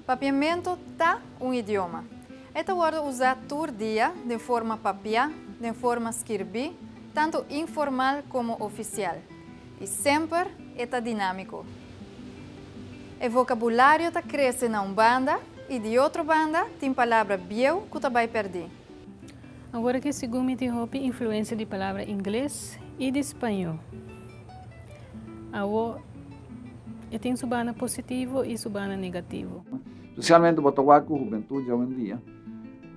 Papiamentu ta un idioma. E ta wòrdu usá tur dia den forma papiá, den forma skirbí, tantu informal komo ofisial, i semper e ta dinámiko. E vokabulario ta krese na un banda i di otro banda tin palabra bieu ku ta bai pèrdí. Awor aki segun mi tin hopi influensia di palabra ingles i di spaño. Awor e tin su banda positivo i su banda negativo. Spesialmente bo ta wak ku hubentut di awendia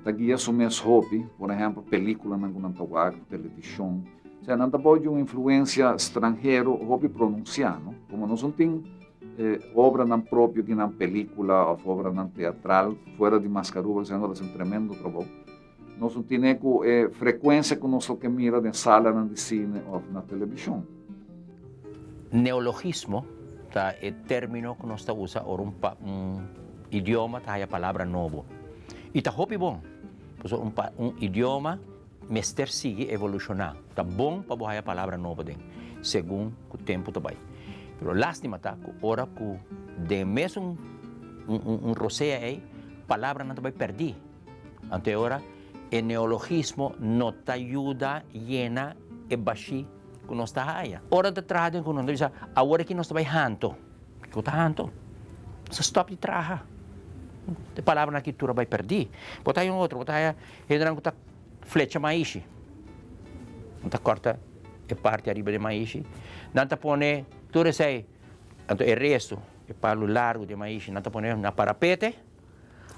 ta guia su mes hopi, por ehempel pelikulanan ku nan ta wak, televishon. Nan ta bou di un influensia stranhero hopi pronunsiá. Komo nos no tin. E obranan propio ki nan pelíkula òf obranan teatral, fuera di Maskaruba ku Senor, ta hasi un tremendo trabou. Nos no tine ku e frekuensia ku nos lo ke mira den salanan di sine òf na televishon. Neologismo ta e término ku nos ta usa ora un un idioma ta haya palabra nobo. I ta hopi bon, pasobra un un idioma Mester sigui evolushona. Ta bon pa bo haya palabra nobo den, segun ku tempu ta bai. Pero lastima ta ku ora ku den mes un un rosea ei palabranan ta bai perdí. Anto e ora e neologismo no ta yuda yena e bashí ku nos ta haya. Ora nan ta traha den ku nos, nan ta bisa, Awor aki nos ta bai hanto. Kiko ta hanto? Nos ta stòp di traha. E palabranan aki tur a bai perdí. Bo ta haya un otro, bo ta haya Hendenan ku ta flecha maishi, nan ta kòrta e parti ariba di maishi, nan ta pone tur esei, anto e restu, e palu largu di maishi, nan ta pone na parapete,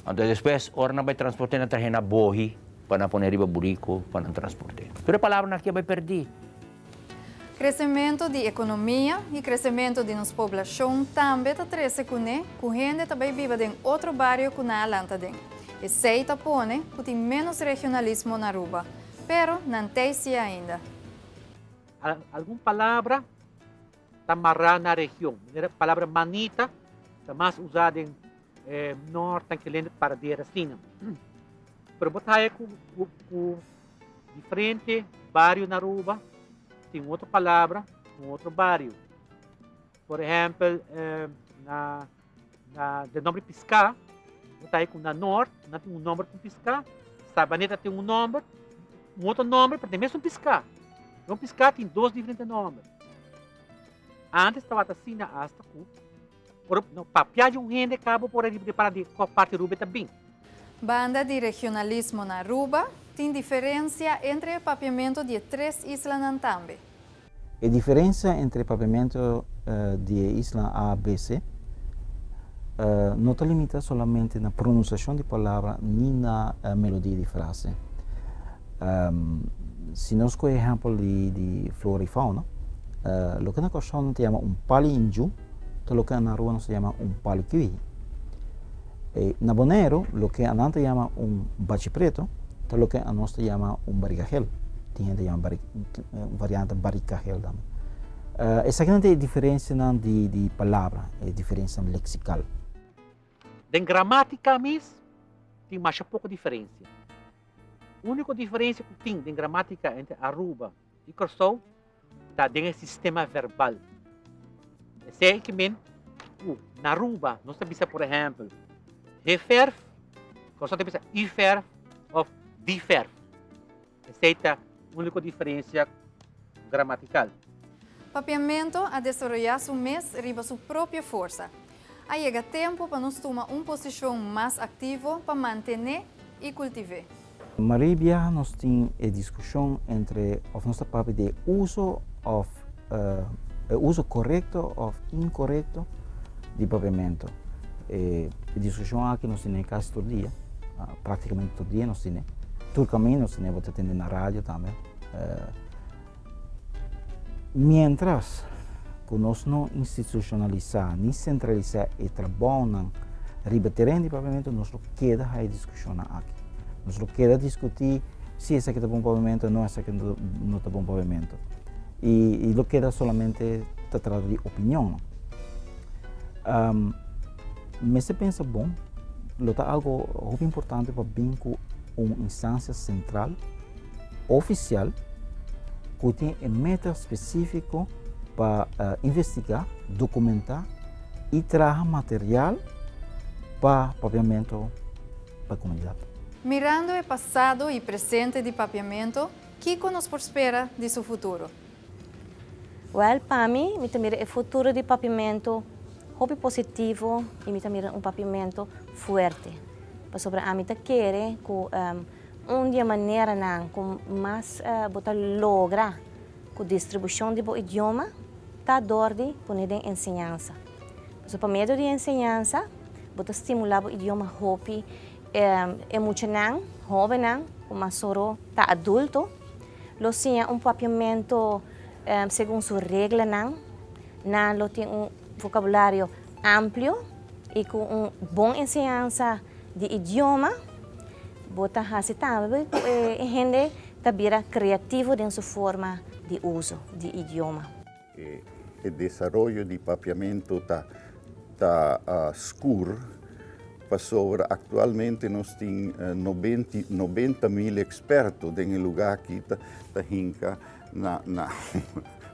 anto despues ora nan bai transporte nan trahe na bohi pa nan pone riba buriku pa nan transporte. Tur e palabranan aki a bai perdí. Kresementu di ekonomia i kresementu di nos poblashon tambe ta trese kuné ku hende ta bai biba den otro bario ku nan a lanta den. Esei ta pone ku tin ménos regionalismo na Aruba. Pero nan t'ei si ainda. Algun palabra ta mará na region. Manera palabra manita ta mas usá den nòrt, tankelende, paradera, asina. Pero bo ta haña ku. Di frente bario na Aruba tin otro palabra con otro bario. Por ehempel, eh, na, na den nomber Piscá, bo ta ku na Noord, nan tin un nomber con Piscá, Sabaneta tin un nomber, un otro nomber, pero den mesun Piscá. Don Piscá tin dos diferente nomber. Antes tabata asina hasta ku Ora bo papia di un hende ka bo por a repara di kò parti Ruba e ta bin. Banda di regionalismo na Aruba, tin diferensia entre e papiamentu di e tres islanan tambe. E diferensia entre e papiamentu di e isla A, B, C no ta limita solamente na pronunsiashon di palabra ni na melodia di frase. Si nos kohe ehèmpel di flora i fauna, loke na Kòrsou nan ta yama un pali inju, Ta loke nan rua nos ta yama un palkui. E na Boneiru, loke anan ta yama un bachi pretu, ta loke anos ta yama un barigahel. Tin hende ta yama bari, un variante barikahel tambe. Esakinan ta e diferensianan di, di palabra, e diferensianan leksikal. Den gramatika mes tin masha poko diferensia. Uniko diferensia ku tin den gramatika entre Aruba. di Kòrsou ta den e sistema verbal. Esei ke men ku na Aruba nos ta bisa, por ehèmpel, he verf, Kòrsou ta bisa u verf òf di verf. Esei ta úniko diferensia gramatikal. Papiamentu a desaroyá su mes riba su propio forsa. A yega tempu pa nos tuma un posishon mas aktivo pa mantené i kultiv'é. Marie biaha nos tin e diskushon entre òf nos ta papia di e uso òf e uso korekto òf inkorekto di papiamentu. E diskushon aki nos tin na e kas tur dia, praktikamente tur dia nos tin e. Tur kaminda nos tin e bo ta tende na radio tambe. Miéntras ku nos no institushonalisá ni sentralisá e trabounan riba teren di Papiamentu, nos lo keda haña diskushonnan aki. Nos lo keda diskutí si esaki ta bon Papiamentu o no, esaki no ta bon Papiamentu. I lo keda solamente ta trata di opinion nò. Mester pensa bon, lo ta algu hopi importante pa bin ku un instancia sentral. ofisial ku tin e meta spesífiko pa investigá, dokumentá i traha material pa Papiamentu pa e komunidat. Mirando e pasado i presente di Papiamentu, kiko nos por spera di su futuro? Wèl, pa mi, mi ta mira e futuro di Papiamentu hopi positivo i mi ta mira un Papiamentu fuerte, pasobra ami ta kere ku Un di e maneranan ku mas bo ta logra ku distribushon di bo idioma ta dor di pone den enseñansa. So pa medio di enseñansa bo ta stimulá bo idioma hopi. E muchanan, hóbennan, ku mas soro ta adulto lo siña un papiamentu segun su reglanan. Nan lo tin un vokabulario amplio i ku un bon enseñansa. di idioma, bo ta hasi tambe ku e hende ta bira kreativo den su forma di uso di idioma. E desaroyo di papiamentu ta ta skur pasobra aktualmente nos tin nobenti nobenta mil eksperto den e lugá aki ta ta hinka na na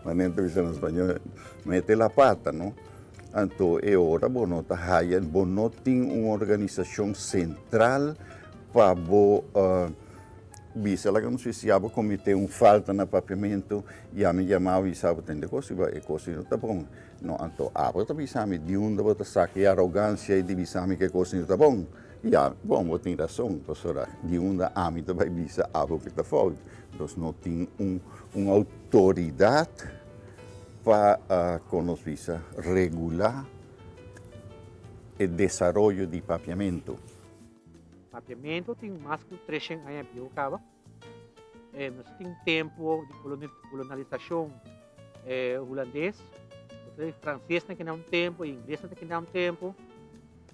manera ta bisa na spañol mete la pata no. Anto e ora bo no ta haya, bo no tin un organisacion central pa bo bisa, laga nos dici, ya bo comete un falta na papiamento, ya mi yamao y sa bo tende cos, e cos y no ta bon. No, anto abo ta bisami di unda bo ta saca e arogancia y di bisami cu e cos y no ta bon? Ya, bon, bo tin razon, pasobra di unda ami ta bay bisa abo cu ta fout? Nos no tin un autoridad. pa kon nos bisa regulá e desaroyo di papiamentu. Papiamentu tin mas ku treshen aña bieu kaba. Nos tin tempu di kolonalisashon hulandes, fransesnan kenda un tempu, e inglesnan ta kenda un tempu,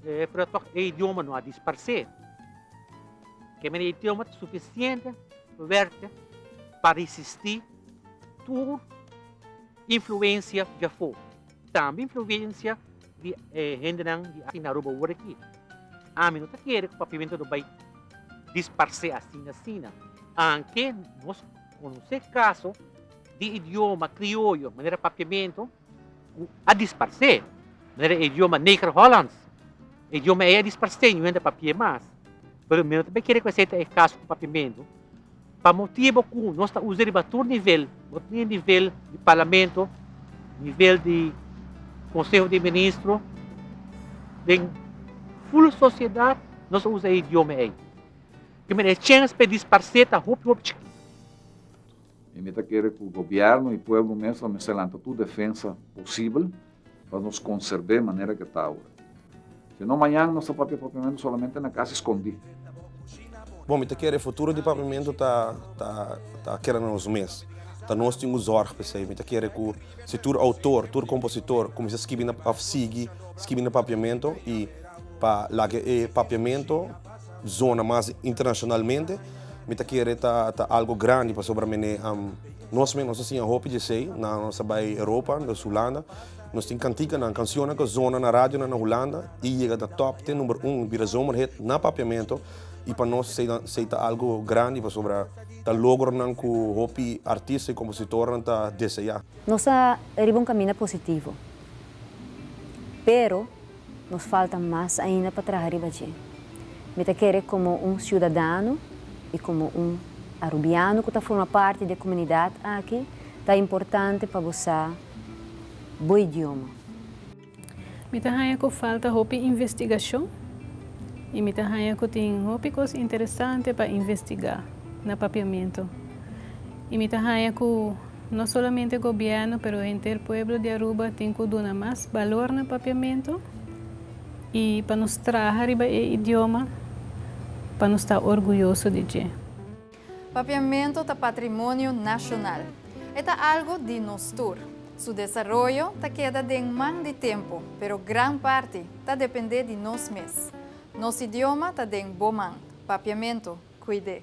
pero tòg e idioma no a disparsé. Kende idioma ta sufisiente fuerte pa risistí. tur influencia di afó, tambe influencia di e hendenan di aki na Aruba ora aki. Ami no ta kere ku papiamento lo bai disparsé asina asina, aunke nos konosé kaso di idioma krioyo manera papiamento ku a dispars'é, manera e idioma Negerhollands, e idioma ei a dispars'é ñu'e ta papi'é mas, pero mi no ta kere ku esei ta e kaso ku papiamentu, pa motibu ku nos ta us'é riba tur nivel, no tin nivel di parlamento, nivel di konseho di ministro, den ful sosiedat nos ta usa e idioma ei. Te mira e chèns pa e dispars'é ta hopi hopi chikí. I mi ta kere ku gobièrnu i pueblo mes lo mester lanta tur defensa posibel pa nos konserb'é manera ku e ta awe. Si no mañan nos ta papia papiamentu solamente na kas i skondí. Bon, mi ta kere e futuro di papiamentu ta ta ta keda na nos mes. Ta nos tin ku zòrg pa esei. Mi ta kere ku si tur outor, tur kompositor kuminsá skibi na òf sigui skibi na papiamentu i pa laga e papiamentu, zona mas internacionalmente mi ta kere ta ta algo grandi pasobra mene um, nos men nos a siña hopi di esei na nos a bai Europa nos Hulanda nos tin cantikanan cancionnan cu a zona na radionan na Hulanda y yega ta top ten number un bira zomerhit na Papiamento y pa nos esei ta esei ta algo grandi pasobra ta logronan cu hopi artista y compositornan ta desea. Nos ta riba un caminda positivo pero. Nos falta mas ainda pa traha riba dje. Mi ta kere komo un siudadano i komo un arubiano ku ta forma parti di e komunidat aki ta importante pa bo sa bo idioma. Mi ta haña ku falta hopi investigashon i mi ta haña ku tin hopi kos interesante pa investigá na papiamentu i mi ta haña ku. No solamente gobierno pero henter pueblo di Aruba tin cu duna mas balor na Papiamento y pa nos traha riba e idioma pa nos ta orguyoso di dje. Papiamento ta patrimonio nacional. E ta algo di nos tur. Su desaroyo ta keda den man di tempo pero gran parti ta depende di nos mes. Nos idioma ta den bo man. Papiamento, cuide.